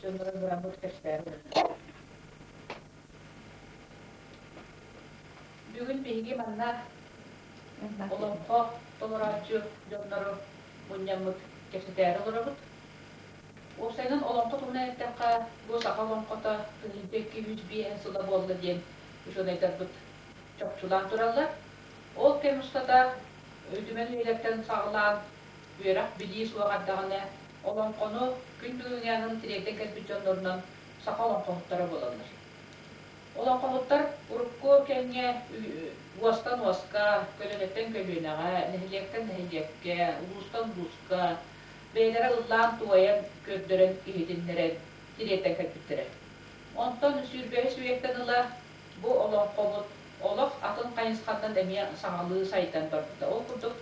Дьоннору быраммыт көстөөбүт. Бүгүн биһиги манна олоҥхо толорооччу дьоннору мунньаммыт кэпсэтээри олоробут. Уопсайынан олоҥхо туһунан эттэххэ, бу саха олоҥхото тыһыынча икки үс биэһ сыла буолла диэн учуонайдарбыт чопчулаан тураллар. Ол кэм устата Үтүмэн үйэлэртэн саҕалаан Үөрэх билии суох эрдэҕинэ, олоҥхону күн бүгүҥҥү аанын тириэрдэн кэлбит дьоннорунан саха олоҥхоһуттара буолаллар. Олоҥхоһуттар урукку кэмҥэ уостан уоска, көлүөнэттэн көлүөнэҕэ, нэһилиэктэн нэһилиэккэ, улуустан улууска бэйэлэрэ ыллаан-туойан, көрдөрөн иһитиннэрэн тириэрдэн кэлбиттэрэ. Онтон сүүрбэһис үйэттэн ыла бу олоҥхобут олох атын хайысхатынан эмиэ саҥалыы сайдан барбыта. Ол курдук,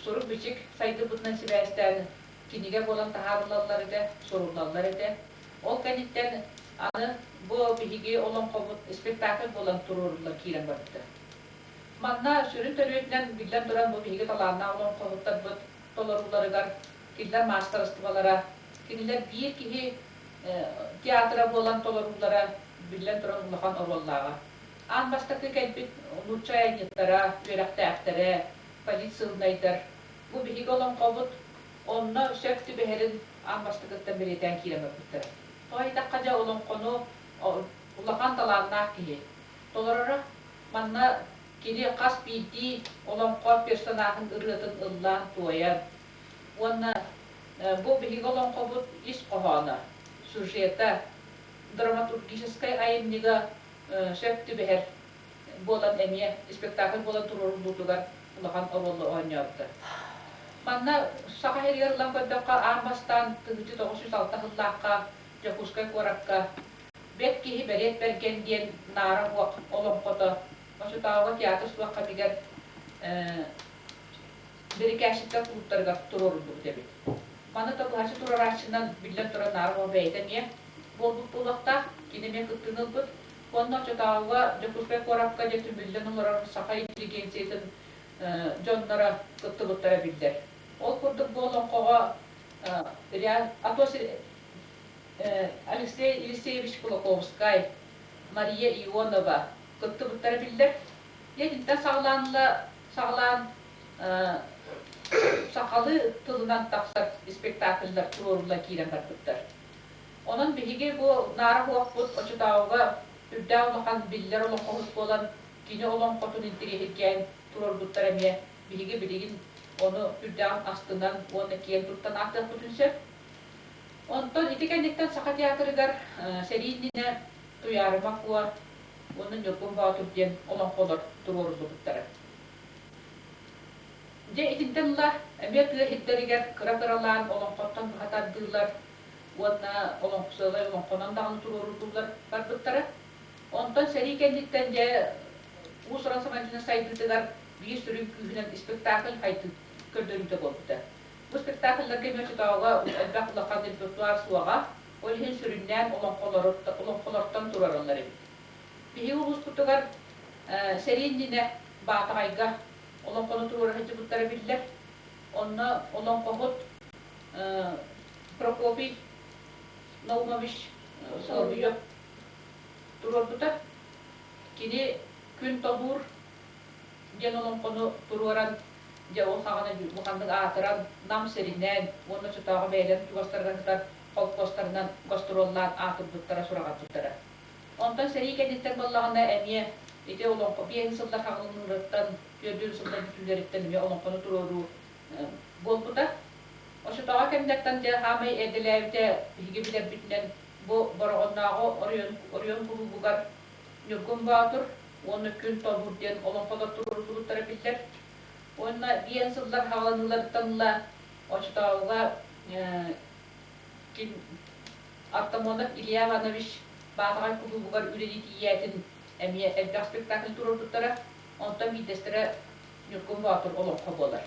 сурук-бичик сайдыыбытынан сибээстээн кинигэ буолан таһаарыллаллар этэ, суруллаллар этэ. Ол кэнниттэн аны бу биһиги олоҥхобут спектакль буолан туруорулла киирэн барбыта. Манна сүрүн төрүөтүнэн биллэн турар бу биһиги талааннаах олоҥхоһуттарбыт толорууларыгар кинилэр маастарыстыбалара, кинилэр биир киһи театра буолан толоруулара биллэн туран улахан оруоллааҕа. Аан бастакы кэлбит нуучча айанньыттара, үөрэхтээхтэрэ, позиционнайдар. Бу биһиги олоҥхобут, онно сөп түбэһэрин аан бастакыттан бэлиэтээн киирэн барбыттара. Тоҕо диэтэххэ, дьэ, олоҥхону улахан талааннаах киһи толороро. Манна кини хас биирдии олоҥхо персонажын ырыатын ыллаан-туойан уонна бу биһиги олоҥхобут ис хоһооно, сюжета, драматургическай айымньыга Сөп түбэһэр буолан эмиэ спектакль буолан туруоруллуутугар улахан оруолу оонньообуттар. Манна Саха сиригэр ылан көрдөххө, аан бастаан тыһыынча тоҕус сүүс алта сыллаахха Дьокуускай куоракка Бэт киһи бэлиэт бэргэн диэн Наара Уох олоҥхото, очутооҕу театр суох кэмигэр бирикээччиктэр куттарыгар туруоруллубут эбит. Маны табыһаччы турарааччынан, биллэн турар, наар оҕо бэйэтэ эмиэ буолбут буолуохтаах, кини эмиэ кыттыыны ылбыт. Уонна оччотооҕуга Дьокуускай куоракка дьэ түмүллэн олорор саха интеллигенциятын дьонноро кыттыбыттара биллэр. Ол курдук бу олоҥхоҕо Алексей Елисеевич Кулаковскай, Мария Ионова кыттыбыттара биллэр. Итинтэн саҕалаан ыла Саҕалаан сахалыы тылынан тахсар спектакльдар туруорулла киирэн барбыттар. Онон биһиги бу наара оһуохпут очутаауга үрдээх улахан биллэр олоҥхоһут буолан, кини олоҥхотун интириэһиргээн туруорбуттара эмиэ биһиги билигин ону үрдэҕин астынан уонна киэн туттан ааттыахпытын сөп. Онтон ити кэнниттэн Саха театрыгар сэрии иннинэ Туйаарыма Куо уонна Ньургун Боотур диэн олоҥхолор туруоруллубуттара. Дьэ, итинтэн ыла эмиэ тыа иһиттэригэр кыра-кыралаан олоҥхоттон быһа тардыылар уонна олоҥхосыалай олоҥхонон даҕаны туруоруллуулар барбыттара. Онтон сэрии кэнниттэн дьэ уус-уран сабандьыны сайдыытыгар биир сүрүн күүһүнэн спектакль хайдыы көрдөрүүтэ буолбута. Бу спектакльларга эмиэ оччотооҕуга элбэх улахан репертуар суоҕа, Ол иһин сүрүннээн олоххолортон турараллар эбит. Биһиги улууспутугар сэрии иннинэ Баатаҕайга олоҥхону туруора сылдьыбыттара биллэр. Онно олоҥхоһут Прокопий Наумович Соловьев туруорбута. Кини күн тобуур диэн олоҥхону туруоран, дьэ ол саҕана буханнык аатыран, Нам сиринэн уонна оччотооҕу бэйэлэрин чугастарынан кытар холкуостарынан гастроллаан аатырбыттара сураҕырбыттара. Онтон сэрии кэнниттэн буоллаҕына эмиэ ити олоҥхо биэһин сыллар хаҥылыныыларыттан, түөрдүөн сыллар бүтүүлэриттэн эмиэ олоҥхону туруоруу буолбута. Оччотооҕу кэмнэртэн дьэ саамай эрдэлээбитэ биһиги билэрбитинэн бу Бороҕоннооҕу оройуон кулуубугар Ньургун Боотур уонна Күн Тобур диэн олоҥхолор туруоруллубуттара биллэр. Уонна биэн сыллар хаалыныларыттан ыла очотооҕуга Артамонов Илья Иванович Баатаҕай кулуубугар үлэлии тиийээтин эмиэ элбэх спектакль туруорбуттара. Онтон биирдэстэрэ Ньургун Боотур олоҥхо буолар.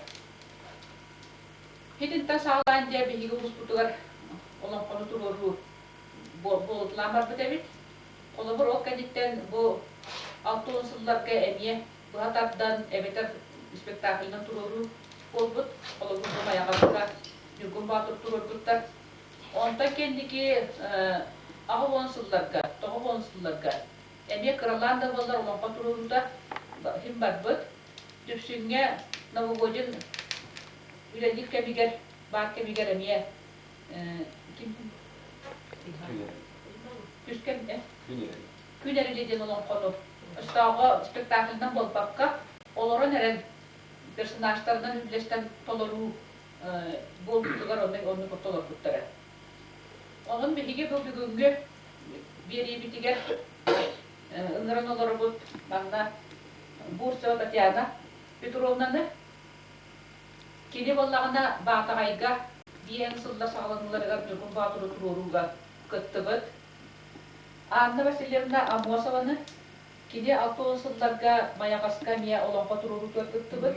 Итинтэн саҕалаан дьэ биһиги улууспутугар олоҥхону туруоруу буолуталаан барбыт эбит. Холобур, ол кэнниттэн бу алта уон сылларга эмиэ быһа тардан эбэтэр спектаклынан туруоруу буолбут. Холобур, Дымайаҕабыта, Ньургун Боотур туруорбуттар. Онтон кэнники аҕа уон сылларга, тоҕо уон сылларга эмиэ кыралаан да буоллар олоҥхо туруоруута иһин барбыт. Дүпсүҥҥэ новогодин үлэлиир кэмигэр, баар кэмигэр эмиэ Түскэн Күнерили диэн олоҥхону өстөөҕө спектакльынан буолбакка, олорон эрэн персонажтарынан үллэстэн толоруу буолбутугар оннук толорбуттара. Онон биһиги бу бүгүҥҥү биэриибитигэр ыҥыран олоробут манна Бурцева Татьяна Петровнаны, Кини буоллаҕына, Баатаҕайга диэн сыллар саҕаланыыларыгар Дьокур Боотуру туруорууга кыттыбыт. Анна Васильевна Аммосованы кини алта уон сылларга Майаҕаска эмиэ олоҥхо туруоруутугар кыттыбыт.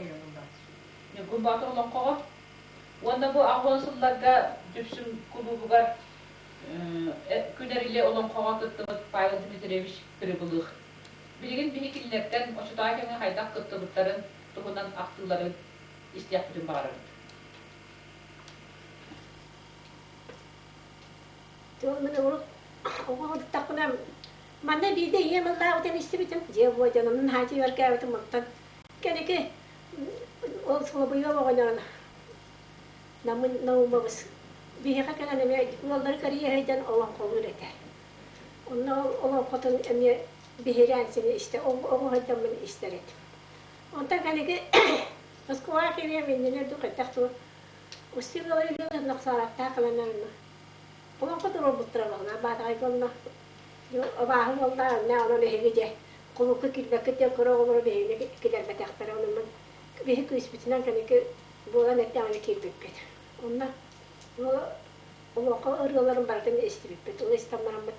Ньургун Боотур олоҥхоҕо уонна бу аҕа уон сылларга Дүпсүн кулуубугар Күнэрили олоҥхоҕо кыттыбыт Павел Дмитриевич Прибылых. Билигин биһи кинилэртэн, очутаҕа кэмҥэ хайдах кыттыбыттарын туһунан ахтыылары истиэхпитин баҕарабыт. Тыл мин урут оҕоҕуттахпына манна биирдэ ийэм ыллаабытын истибитим дьиэ буой дьонумун хаачыйаргээбитим оттон кэники ол суобуйа оҕоньорун намын наумабыс биһиэхэ кэлэн эмиэ ыаллары кэрийэһэйдэн олоҥхолуур этэ онно олоҥхотун эмиэ биһирээн сини истэ оҕуһайдаммын истэр этим Онтон кэлиги Москваҕа кириэм иннинэ дук этэх тур Устин Гаврильевна нохсаалаттаах кыланарына олоҥхо туруорбуттара баҕана баатаҕай буолла абааһы буолла анна онон эһиги дьэ кулуку киирбэккит диэн көрө оҕолоро биһигини киллэрбэтэхтэрэ ону мин биһи күүспүтүнэн кэники буолан эттэҕинэ киирбиппит онно бу олоҥхо ырыаларын барытын истибиппит ол истаннараммыт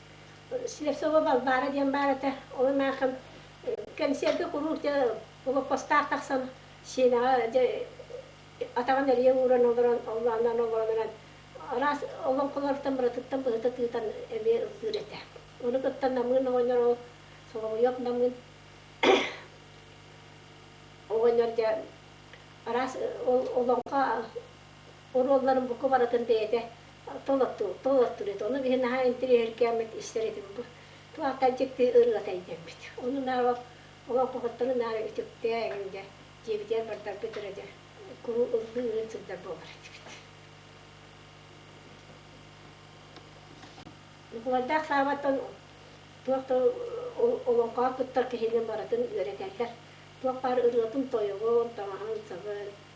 Слепцова Балбаара диэн баар этэ. Ол анаахын кэнсиэргэ куруук блокпостаах тахсан Сиэнэҕэ атаҕын эрийэ ууран олорон оллоонноон олорон эрэн араас олоҥхолоруттан барытыттан быһыта тыытан эмиэ ыллыыр этэ. Ону кытта Намыын оҕонньор ол Соломойуоп Намыын оҕонньор дьэ араас ол олоҥхо Оруолларын бука барытын бэйэтэ толоттубут. Ону биһи наһаа интэриэһиргээммит истэр этим бу. Туохха дьикти ырыата идэммит. Ону наабап олоҥхоһуттары наары үтүктээҥ дэ, диэбитигэр бардаргыт эрэ дэ куру ыллыы ыйын сылдьар буолар этибит. Нукулайдаах саабаттан туох да олоҥхоҕо кыттар киһини барытын үөрэтэллэр. Туох баар ырыатын тойогун, таҥаһын, сабын,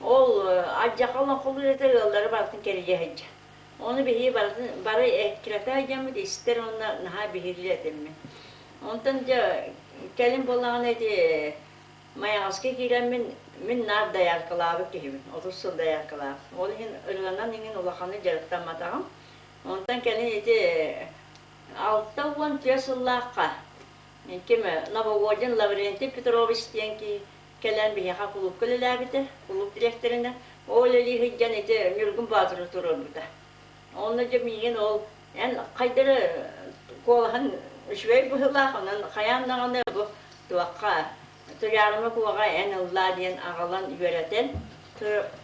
Ол адьака олоҥхолуур эдэр ыаллара барытын кэрийэ сылдьар. Ону биһии барытын бары эккирэтэ сылдьаммыт истэр уонна наһаа биһириир этиммин. Онтон дьэ кэлин буоллаҕына ити Майаҕаска киирэммин мин наар дояркалаабыт киһибин, отут сыл дояркалаах. Ол иһин ырыанан иҥин улаханнык дьарыктамматаҕым. Онтон кэлин ити алта уон түөрт сыллаахха ким Нововодин Лаврентий Петрович диэн киһи Кэлэн биһиэхэ кулуупка үлэлээбитэ. Кулууп дириэктэринэн ол үлэлии сылдьан ити Ньургун Боотуру туруорбута. Онно дьэ миигин ол эн хайдары куолаһын үчүгэй быһыылаах, онон хайаан даҕаны бу туохха Туйаарыма Куоҕа эн ыллаа диэн аҕалан үөрэтэн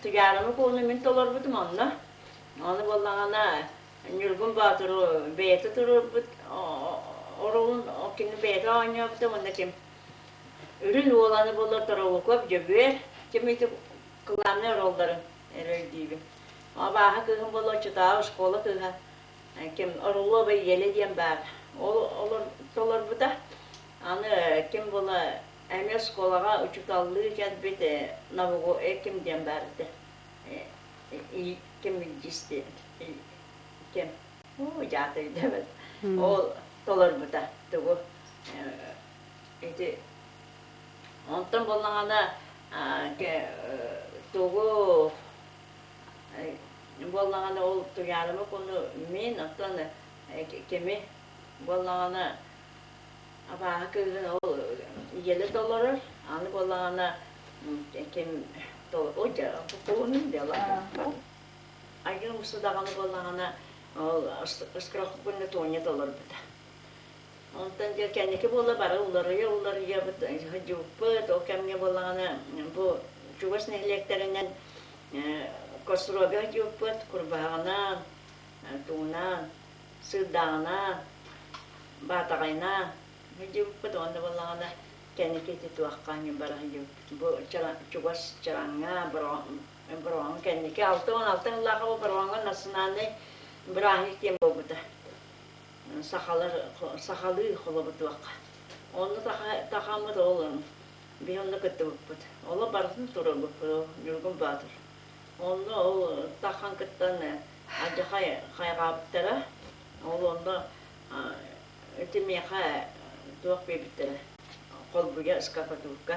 Туйаарыма Кууну мин толорбутум онно. Ону буоллаҕына Ньургун Боотуру бэйэтэ туруорбут оруолун кинини бэйэтэ оонньообута уонна ким Үрүн Уоланы булар Торовокоп Дьөгүөр ким ити кылааннай оруолларын эрэлдиибин. Абааһы кыыһым болуоччутааҕы оскуола кыыһа ким Орлова Еля диэн баар. Ол толорбута. Аны ким була эмиэ оскуолаҕа учууталлыы кэлбит Нового ким диэн баар этэ. Ким диэн ким Уу, дьаат өйдөөбөт. Ол толорбута тугу ити онтон боллаҕана тугу боллаҕана ол туйаарымы куну мин оттон кими боллаҕана абааһы кыыһын ол ийэлэ толорор аны боллаҕана ким ол куһунун дьала Айыым ысы даҕаны буоллаҕына, ол ыскырахпынны Туонньата олорбута. Онтон дьэ кэнники буола бары уларыйа-уларыйабыт, сыһдьыппыт, ол кэмҥэ буоллаҕына бу чугас нэһилиэктэринэн Кострога сыдьыппыт курбааҕынаан, тугунаан, сыырдааҕынаан, баатаҕайнаан сыдьыппыт уонна буоллаҕына кэнники ити туохха барар бу чугас чараҥҥа бырооһун кэнники алта уон алта сыллаах бырооһуҥа национальнай бырааһынньык диэн буолбута сахалар сахалыы холобутуохха онно тахаммыт ол биир онно кыттыбыппыт оло барытын турарбыппыт ньургун баатыр онно ол тахан кыттан адьа хайҕаабыттара ол онно ити миэхэ туох биэрбиттэрэ холбуйа скакатурка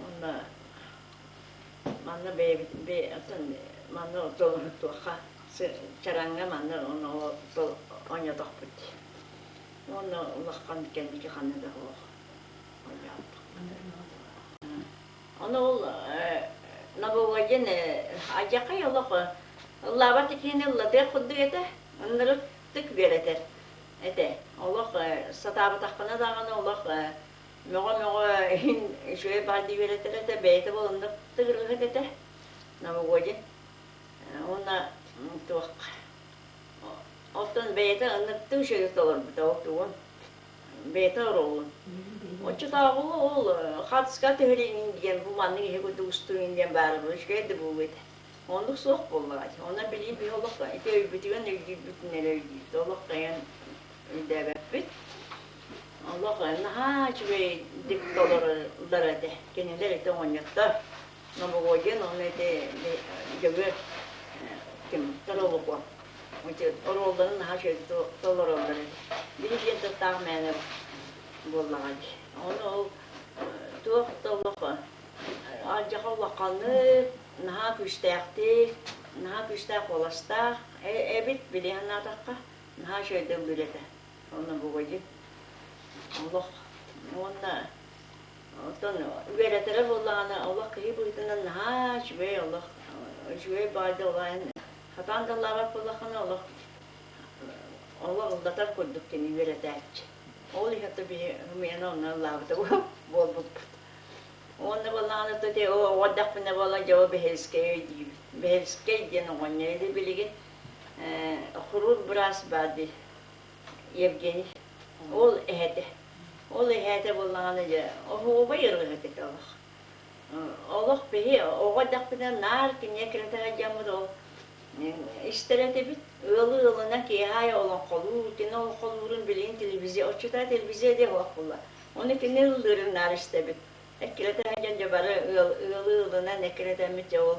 Уонна манна бэйэбитин манна толорутуохха чараҥҥа манна оонньоотохпут уонна улахан кэлбики ханна да суох ону ол нововойден адьакай олох ыллаабат икиини ыллатыах курдук этэ ынырыктык биэрэтэр этэ олох сатаабатахпына даҕаны олох мөҕө-мөҕө иһин үчүгэй баар дии үөрэтэр этэ, бэйэтэ буоланда тыгыргыһыт этэ новогодин. Уонна туохха. Оттон бэйэтэ ынныктыы үчүгэй толорбута ол тугун. Бэйэтэ оруолун. Оччотааҕы ол хатска түһэриҥин диэн бу маннык иһи курдук устуруҥин диэн баара үчүгэй да буолуо этэ. Оннук суох буоллаҕа. Онно билии биһи олох ити өйбүтүгэн өйдүүрбүт нэлэ өйдүүбүт. Олох тайан өйдөөбөппүт. Олох наһаа үчүгэйдик толоруллар этэ. Кинилэр ити оҕонньоттор Новогодин уонна ити дьөгүөр кимтэр олукуон оруолларын наһаа үчүгэй толороллор этэ. Биһи диэн тыллаах мээнэ буоллаҕа дии. Ону ол туох да олох алдьарха улаханнык, наһаа күүстээхтик, наһаа күүстээх уоластаах эбит били санаатахха наһаа үчүгэйдик үлэ этэ. Онно бывает олох уонна оттон үөрэтэрэ буоллаҕына олох киһи быһыытынан наһаа үчүгэй олох үчүгэй баай да олаайын хатаан да лаабат буоллаххына олох олох ыллатар курдук кини үөрэтээччи ол иһэтэ биһи хымыйана оннан лаабыта буолбуппут уонна боллаҕына то те оҕордахпына буолла дьоҕо бэһэлискэй диибит бэһэлискэй диэн оҕонньор или билигин э, хурур быраас баар дии Евгений. Ол эһэтэ. Ол эһэтэ буоллаҕына дьэ оһуобай ырыаһыт этэ олох. Олох биһи оҕо дэхпитинэ наар киниэ киретэ сылдьаммыт ол истэр этибит. Ыалы ыалына киэһээ олоҥхолуур, кини олоҥхолуурун билигин телевизия, отчута телевизия диэх олох буолла. Ону кини ыллыырын наар истэбит. Эккирэтэ сылдьан дьэ бары ыал ыалы ыалынан эккирэтэммит дьэ ол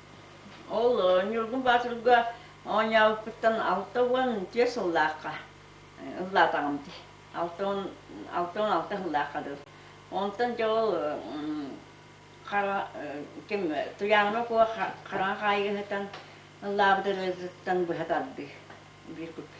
Ол Ньургун Боотурга оонньообуппуттан алта уон түөрт сыллаахха ыллаатаҕым дии. Алта уон алта уон алта сыллаахха дылы. Онтон дьол хара ким туйааҥҥа окуо хараҥа хаайыһытан ыллаабыт ырыатыттан быһа тардыы биир купи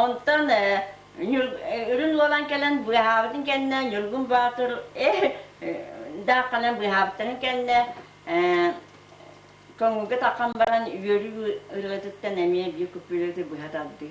Онтон үрүн буолан кэлэн быыһаабытын кэннэ Ньургун Баатыр даахханан быыһаабытын кэннэ көҥүлгэ таххан баран үөрүү ырыатыттан эмиэ биир күппүлүөтү быһа тардыы